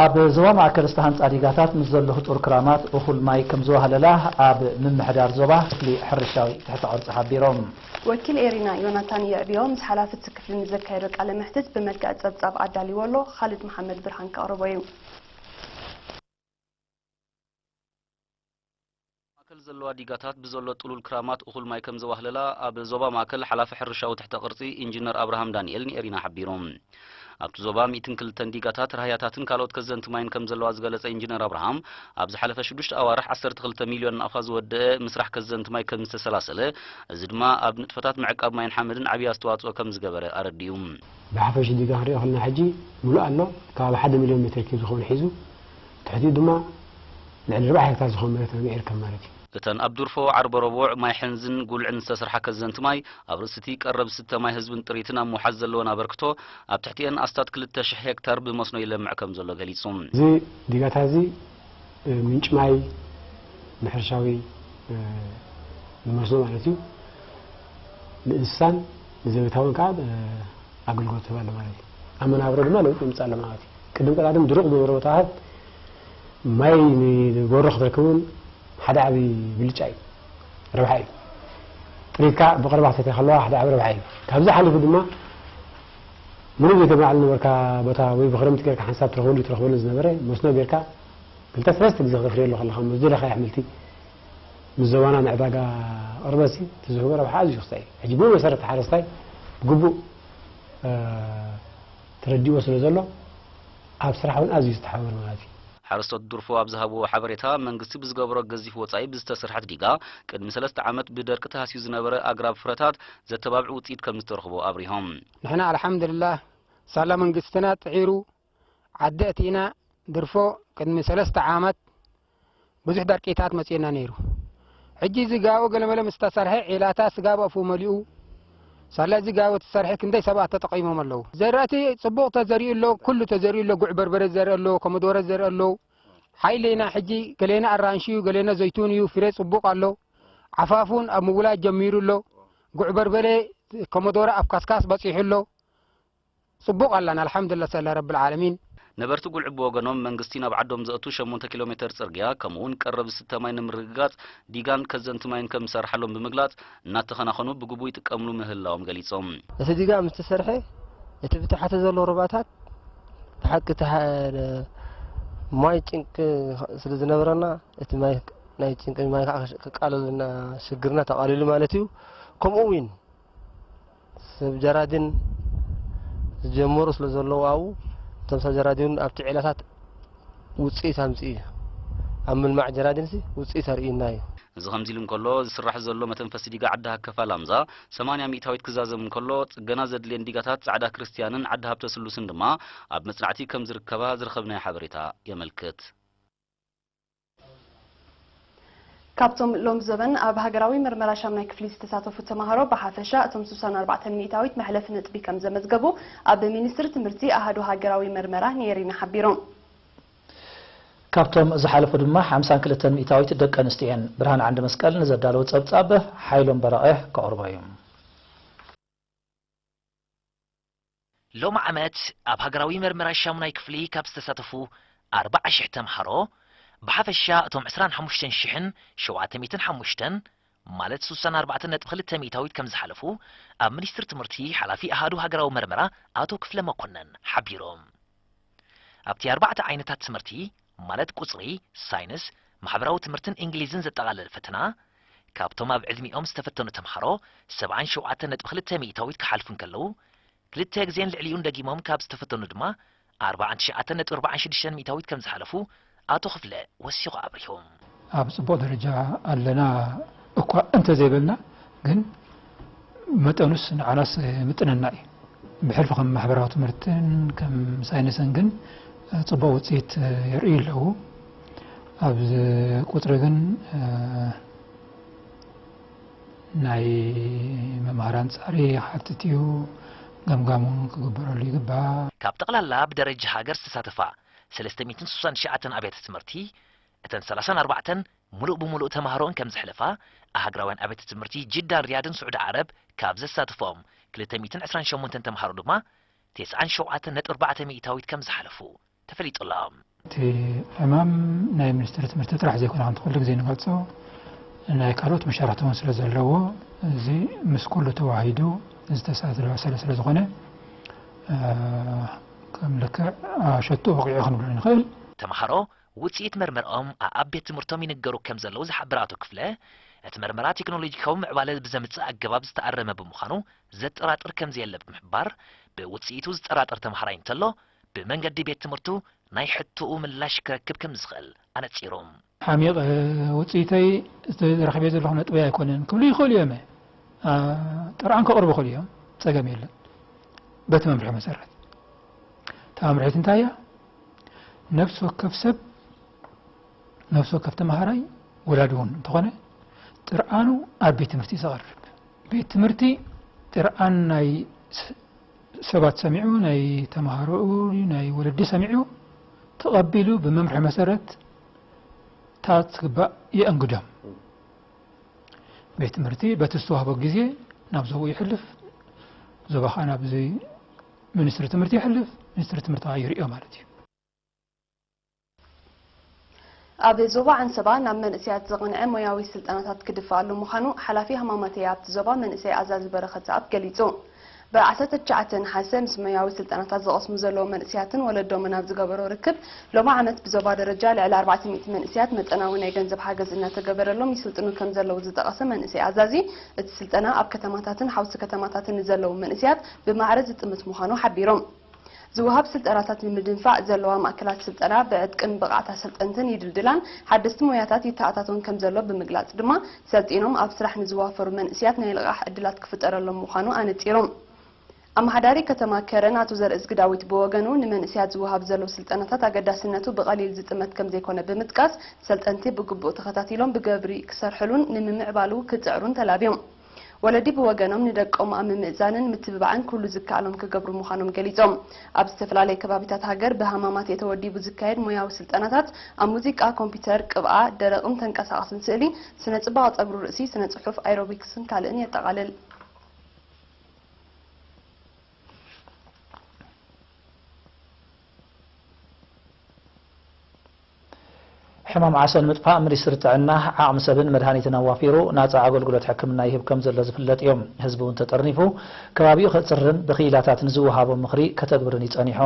ኣብ ዞባ ማእከል ዝተሃንጻ ዲጋታት ምስ ዘሎ ህጹር ክራማት እኹል ማይ ከምዝዋህለላ ኣብ ምምሕዳር ዞባ ክፍሊ ሕርሻዊ ትሕተ ቅርጺ ሓቢሮም። ወኪል ኤሪና ዮናታን የዕብዮ ምስ ሓላፊ እቲ ክፍሊ ንዘካየዶ ቃለ መሕትት ብመልክዕ ጸብጻብ ኣዳልይዎ ኣሎ፣ ኻልድ መሓመድ ብርሃን ከቕርቦ እዩ። ማእከል ዘለዋ ዲጋታት ብዘሎ ጥሉል ክራማት እኹል ማይ ከምዘዋህለላ ኣብ ዞባ ማእከል ሓላፊ ሕርሻዊ ትሕተ ቅርጺ ኢንጂነር ኣብርሃም ዳንኤል ንኤሪና ሓቢሩ። ኣብቲ ዞባ ሚእትን ክልተን ዲጋታት፣ ራህያታትን ካልኦት ከዘንቲ ማይን ከምዘለዋ ዝገለጸ ኢንጂነር ኣብርሃም፣ ኣብ ዝሓለፈ ሽዱሽተ ኣዋርሕ ዓሰርተ ክልተ ሚልዮን ናቕፋ ዝወደኣ ምስራሕ ከዘንቲ ማይ ከምዝተሰላሰለ፣ እዚ ድማ ኣብ ንጥፈታት ምዕቃብ ማይን ሓመድን ዓቢ ኣስተዋጽኦ ከምዝገበረ ኣረዲኡ። ብሓፈሽ ዲጋ ክንሪኦ ከለና ሕጂ ምሉእ ኣሎ፣ ከባቢ ሓደ ሚልዮን ሜትር ኪዩብ ዝኸውን ሒዙ። ትሕቲኡ ድማ ልዕሊ ኣርባዓ ሄክታር ዝኾን መሬት ርግእ ይርከብ ማለት እዩ። እተን ኣብ ዱርፎ ዓርበ ረቡዕ ማይ ሕንዝን ጉልዕን ዝተስርሓ ከዘንቲ ማይ፣ ኣብ ርእሲ'ቲ ቀረብ ዝስተ ማይ ህዝብን ጥሪትን ኣብ ምውሓስ ዘለወን ኣበርክቶ፣ ኣብ ትሕቲኤን ኣስታት ክልተ ሽሕ ሄክታር ብመስኖ ይለምዕ ከምዘሎ ገሊጹ። እዚ ዲጋታ'ዚ ምንጪ ማይ ንሕርሻዊ ንመስኖ ማለት እዩ፣ ንእንስሳን ንዘቤታውን ከኣ ኣገልግሎት ትህብ ኣለ ማለት እዩ። ኣብ መናብሮ ድማ ለውጢ የምፅእ ኣሎ ማለት እዩ። ቅድም ቀዳድም ድሩቕ ዝነበረ ቦታታት ማይ ንጎሮ ክትረክብ እውን ሓደ ዓብዪ ብልጫ እዩ፣ ረብሓ እዩ። ጥሪትካ ብቐረባ ክትሰትያ ከለዋ ሓደ ዓብዪ ረብሓ እዩ። ካብዚ ሓሊፉ ድማ ምንም ዘይተማዕሉ ነበርካ ቦታ ወይ ብክረምቲ ጌርካ ሓንሳብ ትረኽበሉ ትረኽበሉ ዝነበረ መስኖ ጌርካ ክልተ ሰለስተ ግዜ ክተፍርየሉ ከለኻ ምስ ዝደለኻዮ ኣሕምልቲ ምስ ዞባና ንዕዳጋ ቅርበትሲ እቲ ዝህቦ ረብሓ ኣዝዩ ክሳእ እዩ። ሕጂ ብመሰረት ሓረስታይ ብግቡእ ተረዲእዎ ስለ ዘሎ ኣብ ስራሕ እውን ኣዝዩ ዝተሓባበረ ማለት እዩ። ሓረስቶት ዱርፎ ኣብ ዝሃብዎ ሓበሬታ፣ መንግስቲ ብዝገበሮ ገዚፍ ወፃኢ ብዝተሰርሐት ዲጋ ቅድሚ ሰለስተ ዓመት ብደርቂ ተሃስዩ ዝነበረ ኣግራብ ፍረታት ዘተባብዕ ውፅኢት ከምዝተረኽቦ ኣብሪሆም። ንሕና ኣልሓምድልላህ ሳላ መንግስትና ፅዒሩ ዓዲ ኣቲና ድርፎ ቅድሚ ሰለስተ ዓመት ብዙሕ ደርቂታት መጺኡና ነይሩ። ሕጂ እዚ ጋቦ ገለመለ ምስ ተሰርሐ ዒላታት ስጋብ ኣፉ መሊኡ ሳላ እዚ ጋቦ ተሰርሐ ክንደይ ሰባት ተጠቒሞም ኣለዉ። ዘራእቲ ጽቡቕ ተዘሪኡ ኣሎ፣ ኩሉ ተዘሪኡ ኣሎ፣ ጉዕ በርበረ ዝዘርእ ኣሎ፣ ኮመዶረ ዝዘርእ ኣሎ፣ ሓይሌና ሕጂ ገሌና ኣራንሺ እዩ፣ ገሌና ዘይቱን እዩ፣ ፍሬ ጽቡቕ ኣሎ፣ ዓፋፍ እውን ኣብ ምውላድ ጀሚሩ ኣሎ፣ ጉዕ በርበረ ኮመዶረ ኣብ ካስካስ በጺሑ ኣሎ፣ ጽቡቕ ኣላና ኣልሓምዱላ ሰለ ረብልዓለሚን። ነበርቲ ጉልዒ ብወገኖም፣ መንግስቲ ናብ ዓዶም ዘእቱ ሸሞንተ ኪሎ ሜተር ጽርግያ ከምኡ'ውን ቀረብ ዝስተ ማይ ንምርግጋጽ ዲጋን ከዘንቲ ማይን ከም ዝሰርሓሎም ብምግላጽ፣ እናተኸናኸኑ ብግቡእ ይጥቀምሉ ምህላዎም ገሊጾም። እቲ ዲጋ ምስ ተሰርሐ እቲ ብታሕቲ ዘሎ ሩባታት ብሓቂ እቲ ማይ ጭንቂ ስለ ዝነበረና እቲ ማይ ናይ ጭንቂ ማይ ክቃለለልና ሽግርና ተቓሊሉ ማለት እዩ። ከምኡ'ውን። ሰብ ጀራዲን ዝጀመሩ ስለ ዘለዉ ኣብኡ እቶም ሰብ ጀራዲን ኣብቲ ዒላታት ውጽኢት ኣምጽኡ እዩ። ኣብ ምልማዕ ጀራዲንሲ ውጽኢት ኣርእዩና እዩ። እዚ ከምዚ ኢሉ እንከሎ፣ ዝስራሕ ዘሎ መተንፈሲ ዲጋ ዓዲ ሃከፋ ላምዛ ሰማንያ ሚእታዊት ክዛዘም እንከሎ፣ ጽገና ዘድልየን ዲጋታት ጻዕዳ ክርስትያንን ዓዲ ሃብተ ስሉስን ድማ ኣብ መጽናዕቲ ከም ዝርከባ ዝረኸብናዮ ሓበሬታ የመልክት። ካብቶም ሎም ዘበን ኣብ ሃገራዊ ምርመራ ሻምናይ ክፍሊ ዝተሳተፉ ተማሃሮ ብሓፈሻ እቶም ስሳን ኣርባዕተን ሚእታዊት መሕለፊ ነጥቢ ከም ዘመዝገቡ ኣብ ሚኒስትሪ ትምህርቲ ኣሃዱ ሃገራዊ ምርመራ ኔሪና ሓቢሮም። ካብቶም ዝሓለፉ ድማ ሓምሳን ክልተን ሚእታዊት ደቂ ኣንስትዮ እየን። ብርሃን ዓንደመስቀል ንዘዳለዎ ጸብጻብ ሓይሎም በረቐ ከቕርቦ እዩ። ሎሚ ዓመት ኣብ ሃገራዊ መርመራ ሻሙናይ ክፍሊ ካብ ዝተሳተፉ ኣርብዓ ሽሕ ተምሃሮ ብሓፈሻ እቶም ዕስራን ሓሙሽተን ሽሕን ሸውዓተ ሚእትን ሓሙሽተን ማለት ስሳን ኣርባዕተን ነጥቢ ክልተ ሚእታዊት ከምዝሓለፉ ኣብ ሚኒስትሪ ትምህርቲ ሓላፊ ኣሃዱ ሃገራዊ መርመራ ኣቶ ክፍለ መኮነን ሓቢሮም። ኣብቲ ኣርባዕተ ዓይነታት ትምህርቲ ማለት ቁጽሪ፣ ሳይንስ፣ ማሕበራዊ ትምህርትን እንግሊዝን ዘጠቓለለ ፈተና፣ ካብቶም ኣብ ዕድሚኦም ዝተፈተኑ ተምሃሮ ሰብዓን ሸውዓተን ነጥቢ ክልተ ሚእታዊት ክሓልፉ እንከለዉ፣ ክልተ ግዜን ልዕሊኡን ደጊሞም ካብ ዝተፈተኑ ድማ ኣርባዓን ትሽዓተን ነጥቢ ኣርባዓን ሽዱሽተን ሚእታዊት ከምዝሓለፉ ኣቶ ክፍለ ወሲኹ ኣብሪሁ። ኣብ ፅቡቕ ደረጃ ኣለና እኳ እንተዘይበልና ግን መጠኑስ ንዓናስ ይምጥነና እዩ። ብሕልፊ ከም ማሕበራዊ ትምህርትን ከም ሳይንስን ግን ፅቡቕ ውፅኢት የርእዩ ኣለዉ። ኣብ ቁፅሪ ግን ናይ መምሃራን ፃዕሪ ይሓትት እዩ። ገምጋም እውን ክግበረሉ ይግባእ። ካብ ጠቕላላ ብደረጃ ሃገር ዝተሳተፋ ሰለስተ ሚእትን ስሳን ትሽዓተን ኣብያተ ትምህርቲ እተን ሰላሳን ኣርባዕተን ሙሉእ ብሙሉእ ተማሃሮኡን ከምዝሕለፋ ኣሃግራውያን ኣብያተ ትምህርቲ ጅዳን ሪያድን ስዑዲ ዓረብ ካብ ዘሳትፈኦም ክልተ ሚእትን ዕስራን ሸሞንተን ተማሃሮ ድማ ቴስዓን ሸውዓተን ነጥቢ ኣርባዕተ ሚኢታዊት ከምዝሓለፉ ተፈሊጡ ኣሎ። እቲ ዕማም ናይ ሚኒስትሪ ትምህርቲ ጥራሕ ዘይኮነ ከምቲ ኩሉ ግዜ ንገልጾ ናይ ካልኦት መሻርኽቲ እውን ስለ ዘለዎ እዚ ምስ ኩሉ ተዋሂዱ ዝተሳለሰለ ስለዝኾነ ከም ልክዕ ሸቶ ወቒዑ ክንብሎ ንኽእል። ተምሃሮ ውፅኢት መርመርኦም ኣኣብ ቤት ትምህርቶም ይንገሩ ከም ዘለዉ ዝሓብር ኣቶ ክፍለ፣ እቲ መርመራ ቴክኖሎጂካዊ ምዕባለ ብዘምፅእ ኣገባብ ዝተኣረመ ብምዃኑ ዘጠራጥር ከም ዘየለ ብምሕባር፣ ብውፅኢቱ ዝጠራጠር ተምሃራይ እንተሎ ብመንገዲ ቤት ትምህርቱ ናይ ሕቶኡ ምላሽ ክረክብ ከም ዝኽእል ኣነፂሩ። ሓሚቐ ውጽኢተይ እቲ ረኺበዮ ዘለኹ ነጥበይ ኣይኮነን ክብሉ ይኽእሉ እዮመ ጥርዓን ከቕርቡ ይኽእሉ እዮም ጸገም የለን በቲ መምርሒ መሰረት እታ መምርሒት እንታይ እያ ነፍሲ ወከፍ ሰብ ነፍሲ ወከፍ ተምሃራይ ወላዲ እውን እንተኾነ ጥርዓኑ ኣብ ቤት ትምህርቲ ዘቐርብ ቤት ትምህርቲ ጥርዓን ናይ ሰባት ሰሚዑ ናይ ተምሃሮኡ ናይ ወለዲ ሰሚዑ ተቐቢሉ ብመምርሒ መሰረት ታት ዝግባእ የእንግዶም። ቤት ትምህርቲ በቲ ዝተዋህቦ ግዜ ናብ ዞባኡ ይሕልፍ፣ ዞባ ከዓ ናብ ሚኒስትሪ ትምህርቲ ይሕልፍ፣ ሚኒስትሪ ትምህርቲ ከዓ ይርእዮ ማለት እዩ። ኣብ ዞባ ዓንሰባ ናብ መንእሰያት ዝቕንዐ ሞያዊ ስልጠናታት ክድፋኣሉ ምዃኑ ሓላፊ ሃማማተኤ ኣብቲ ዞባ መንእሰይ ኣዛዚ በረኸት ዝኣብ ገሊጹ። ብ ዓሰርተ ትሽዓተ ነሓሰ ምስ ሞያዊ ስልጠናታት ዝቐስሙ ዘለዉ መንእሰያትን ወለዶምን ኣብ ዝገበሮ ርክብ፣ ሎሚ ዓመት ብዞባ ደረጃ ልዕሊ ኣርባዕተ ሚእቲ መንእሰያት መጠናዊ ናይ ገንዘብ ሓገዝ እናተገበረሎም ይስልጥኑ ከምዘለዉ ዝጠቐሰ መንእሰይ ኣዛዚ፣ እቲ ስልጠና ኣብ ከተማታትን ሓውሲ ከተማታትን ንዘለዉ መንእሰያት ብማዕረ ዝጥምት ምዃኑ ሓቢሩ። ዝወሃብ ስልጠናታት ንምድንፋዕ ዘለዋ ማእከላት ስልጠና ብዕጥቅን ብቕዓት ኣሰልጠንትን ይድልድላን ሓደስቲ ሞያታት ይተኣታቶን ከምዘሎ ብምግላጽ ድማ፣ ሰልጢኖም ኣብ ስራሕ ንዝዋፈሩ መንእስያት ናይ ልቓሕ ዕድላት ክፍጠረሎም ምዃኑ ኣነጺሩ። ኣመሓዳሪ ከተማ ከረን ኣቶ ዘርእዝጊ ዳዊት ብወገኑ፣ ንመንእስያት ዝወሃብ ዘሎ ስልጠናታት ኣገዳስነቱ ብቐሊል ዝጥመት ከምዘይኮነ ብምጥቃስ፣ ሰልጠንቲ ብግቡእ ተኸታቲሎም ብግብሪ ክሰርሕሉን ንምምዕባሉ ክጽዕሩን ተላብዮም። ወለዲ ብወገኖም ንደቆም ኣብ ምምእዛንን ምትብባዕን ኩሉ ዝከኣሎም ክገብሩ ምዃኖም ገሊፆም። ኣብ ዝተፈላለየ ከባቢታት ሃገር ብሃማማተኤ ተወዲቡ ዝካየድ ሞያዊ ስልጠናታት ኣብ ሙዚቃ፣ ኮምፒተር፣ ቅብኣ፣ ደረቕን ተንቀሳቓስን ስእሊ፣ ስነ-ፅባቐ ፀጉሪ ርእሲ፣ ስነ-ፅሑፍ፣ ኣይሮቢክስን ካልእን የጠቓልል። ሕማም ዓሶ ንምጥፋእ ሚኒስትሪ ጥዕና ዓቕሚ ሰብን መድሃኒትን ኣዋፊሩ ናፃ ኣገልግሎት ሕክምና ይህብ ከምዘሎ ዝፍለጥ ዩ። ህዝቢ ውን ተጠርኒፉ ከባቢኡ ከፅርርን ብክኢላታት ንዝወሃቦ ምኽሪ ከተግብርን ዩ ፀኒሑ።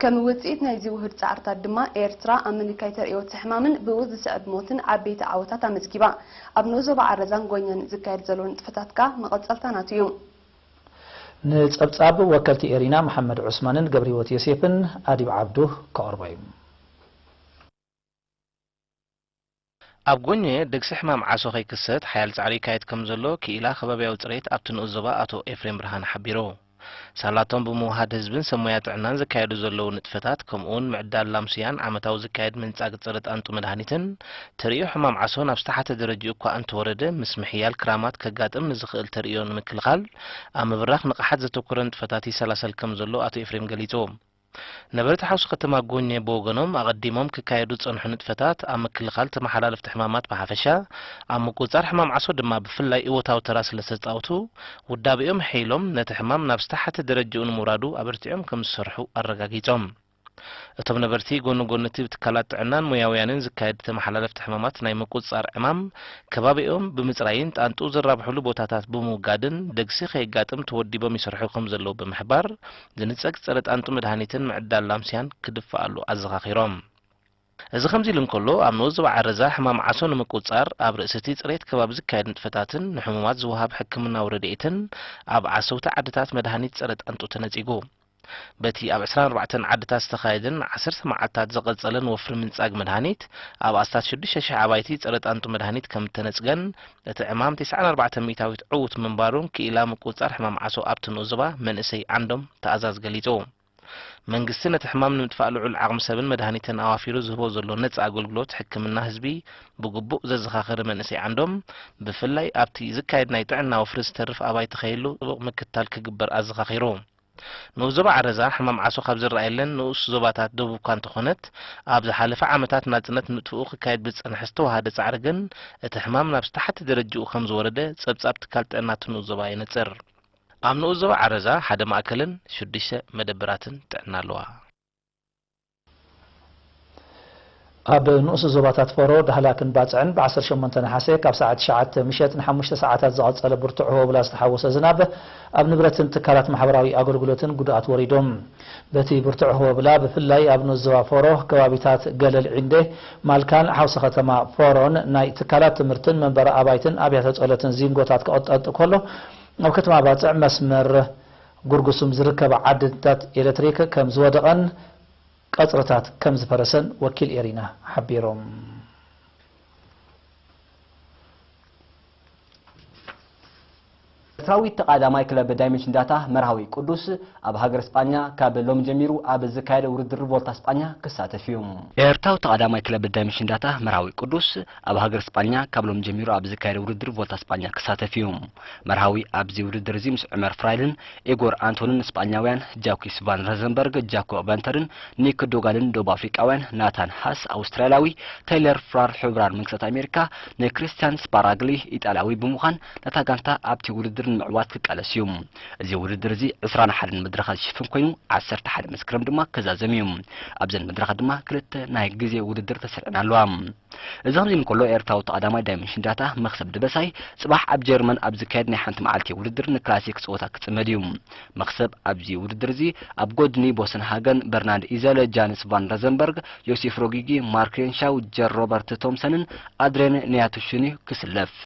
ከም ውፅኢት ናይዚ ውሁድ ፃዕርታት ድማ ኤርትራ ኣብ ምንካይ ተርእዮ እቲ ሕማምን ብኡ ዝስዕብ ሞትን ዓበይቲ ዓወታት ኣመዝጊባ። ኣብ ንኡስ ዞባ ዓረዛን ጎኛን ዝካየድ ዘሎ ንጥፈታት ከኣ መቐፀልታ ናቱ ዩ። ንጸብጻብ ወከልቲ ኤሪና መሓመድ ዑስማንን ገብሪሂወት ዮሴፍን ኣዲብ ዓብዱ ከቕርቦ እዩ። ኣብ ጎኜ ደግሲ ሕማም ዓሶ ከይክሰት ሓያል ጻዕሪ ይካየድ ከምዘሎ ክኢላ ከባብያዊ ጽሬት ኣብቲ ንኡስ ዞባ ኣቶ ኤፍሬም ብርሃነ ሓቢሩ። ሳላ'ቶም ብምውሃድ ህዝብን ሰብ ሞያ ጥዕናን ዝካየዱ ዘለዉ ንጥፈታት ከምኡ'ውን ምዕዳል ላምስያን ዓመታዊ ዝካየድ ምንጻግ ጸረ ጣንጡ መድሃኒትን ተርእዮ ሕማም ዓሶ ናብ ዝተሓተ ደረጅኡ እኳ እንተወረደ፣ ምስ ምሕያል ክራማት ከጋጥም ንዝኽእል ተርእዮ ንምክልኻል፣ ኣብ ምብራኽ ንቕሓት ዘተኮረ ንጥፈታት ይሰላሰል ከም ዘሎ ኣቶ ኤፍሬም ገሊጹ። ነበርቲ ሓውሲ ከተማ ጎኜ ብወገኖም፣ ኣቐዲሞም ክካየዱ ዝጸንሑ ንጥፈታት፣ ኣብ ምክልኻል ተመሓላለፍቲ ሕማማት ብሓፈሻ፣ ኣብ ምቁጽጻር ሕማም ዓሶ ድማ ብፍላይ እወታዊ ተራ ስለዝተጻውቱ፣ ውዳበኦም ኣሐይሎም ነቲ ሕማም ናብ ዝተሓተ ደረጅኡ ንምውራዱ ኣበርቲዖም ከም ዝሰርሑ ኣረጋጊጾም። እቶም ነበርቲ ጎኒ ጎኒ'ቲ ብትካላት ጥዕናን ሞያውያንን ዝካየድ ተመሓላለፍቲ ሕማማት ናይ ምቁጽጻር ዕማም፣ ከባቢኦም ብምጽራይን ጣንጡ ዝራብሕሉ ቦታታት ብምውጋድን ደግሲ ከየጋጥም ተወዲቦም ይሰርሑ ከምዘለዉ ብምሕባር፣ ዝንጸግ ጸረ-ጣንጡ መድሃኒትን ምዕዳል ላምስያን ክድፋኣሉ ኣዘኻኺሮም። እዚ ከምዚ'ሉ እንከሎ፣ ኣብ ንኡስ-ዞባ ዓረዛ ሕማም ዓሶ ንምቁጽጻር ኣብ ርእሲ'ቲ ጽሬት ከባቢ ዝካየድ ንጥፈታትን ንሕሙማት ዝወሃብ ሕክምናዊ ረድኤትን ኣብ ዓሰውቲ ዓድታት መድሃኒት ጸረ-ጣንጡ ተነጺጉ በቲ ኣብ ዕስራን ኣርባዕተን ዓድታት ዝተኻየደን ንዓሰርተ መዓልታት ዝቐጸለን ወፍሪ ምንጻግ መድሃኒት፣ ኣብ ኣስታት ሽዱሽተ ሽሕ ኣባይቲ ጸረ-ጣንጡ መድሃኒት ከም እተነጽገን፣ እቲ ዕማም ቴስዓን ኣርባዕተን ሚእታዊት ዕዉት ምንባሩን ክኢላ ምቁጽጻር ሕማም ዓሶ ኣብቲ ንኡስ ዞባ መንእሰይ ዓንዶም ትኣዛዝ ገሊጹ። መንግስቲ ነቲ ሕማም ንምጥፋእ ልዑል ዓቕሚ ሰብን መድሃኒትን ኣዋፊሩ ዝህቦ ዘሎ ነጻ ኣገልግሎት ሕክምና ህዝቢ ብግቡእ ዘዘኻኸረ መንእሰይ ዓንዶም፣ ብፍላይ ኣብቲ ዝካየድ ናይ ጥዕና ወፍሪ ዝተርፍ ኣባይቲ ከይህሉ ጥቡቕ ምክትታል ክግበር ኣዘኻኺሩ። ንኡስ ዞባ ዓረዛ ሕማም ዓሶ ካብ ዝረኣየለን ንኡስ ዞባታት ደቡብ'ኳ እንተኾነት፣ ኣብ ዝሓለፈ ዓመታት ናጽነት ምጥፍኡ ክካየድ ብዝጸንሐ ዝተወሃደ ጻዕሪ ግን እቲ ሕማም ናብ ዝተሓተ ደረጅኡ ከም ዝወረደ ጸብጻብ ትካል ጥዕና'ቲ ንኡስ ዞባ የነጽር። ኣብ ንኡስ ዞባ ዓረዛ ሓደ ማእከልን ሽዱሽተ መደበራትን ጥዕና ኣለዋ። ኣብ ንኡስ ዞባታት ፈሮ፣ ዳህላክን ባጽዕን ብ ዓሰርተ ሸሞንተ ነሓሰ ካብ ሰዓት ትሽዓተ ምሸት ንሓሙሽተ ሰዓታት ዝቐጸለ ብርቱዕ ህቦብላ ዝተሓወሶ ዝናብ ኣብ ንብረትን ትካላት ማሕበራዊ ኣገልግሎትን ጉድኣት ወሪዱ። በቲ ብርቱዕ ህቦብላ ብፍላይ ኣብ ንኡስ ዞባ ፈሮ ከባቢታት ገለል ዒንዴ፣ ማልካን ሓውሲ ከተማ ፈሮን ናይ ትካላት ትምህርትን መንበሪ ኣባይትን ኣብያተ ጸሎትን ዚንጎታት ክቕጠጥ ከሎ ኣብ ከተማ ባጽዕ መስመር ጉርጉሱም ዝርከባ ዓንድታት ኤለትሪክ ከም ዝወደቐን ቀጽርታት ከም ዝፈረሰን ወኪል ኤሪና ሓቢሮም። ኤርትራዊት ተቓዳማይ ክለብ ዳይመንሽን ዳታ መርሃዊ ቅዱስ ኣብ ሃገረ ስጳኛ ካብ ሎሚ ጀሚሩ ኣብ ዝካየደ ውድድር ቮልታ ስጳኛ ክሳተፍ እዩ። ኤርትራዊት ተቓዳማይ ክለብ ዳይመንሽን ዳታ መርሃዊ ቅዱስ ኣብ ሃገረ ስጳኛ ካብ ሎሚ ጀሚሩ ኣብ ዝካየደ ውድድር ቮልታ ስጳኛ ክሳተፍ እዩ። መርሃዊ ኣብዚ ውድድር እዚ ምስ ዑመር ፍራይልን ኢጎር ኣንቶንን ስጳኛውያን፣ ጃኲስ ቫን ረዘንበርግ፣ ጃኮ ቨንተርን ኒክ ዶጋልን ደቡብ ኣፍሪቃውያን፣ ናታን ሃስ ኣውስትራልያዊ፣ ተይለር ፍራር ሕቡራን መንግስታት ኣሜሪካ ን ክሪስትያን ስፓራግሊ ኢጣልያዊ ብምዃን ነታ ጋንታ ኣብቲ ውድድር ንምዕዋት ክቃለስ እዩ። እዚ ውድድር እዚ ዕስራን ሓደን መድረኻት ዝሽፍን ኮይኑ ዓሰርተ ሓደ መስከረም ድማ ክዛዘም እዩ። ኣብዘን መድረኻት ድማ ክልተ ናይ ግዜ ውድድር ተሰሪዐን ኣለዋ። እዚ ከምዚ እንከሎ ኤርትራዊ ተቐዳማይ ዳይመንሽን ዳታ መኽሰብ ደበሳይ ጽባሕ ኣብ ጀርመን ኣብ ዝካየድ ናይ ሓንቲ መዓልቲ ውድድር ንክላሲክ ጸወታ ክጽመድ እዩ። መኽሰብ ኣብዚ ውድድር እዚ ኣብ ጎድኒ ቦሰን ሃገን፣ በርናንድ ኢዘለ፣ ጃንስ ቫን ረዘንበርግ፣ ዮሲፍ ሮጊጊ፣ ማርክ ሬንሻው፣ ጀር ሮበርት ቶምሰንን ኣድሬን ንያቱሽን'ዩ ክስለፍ።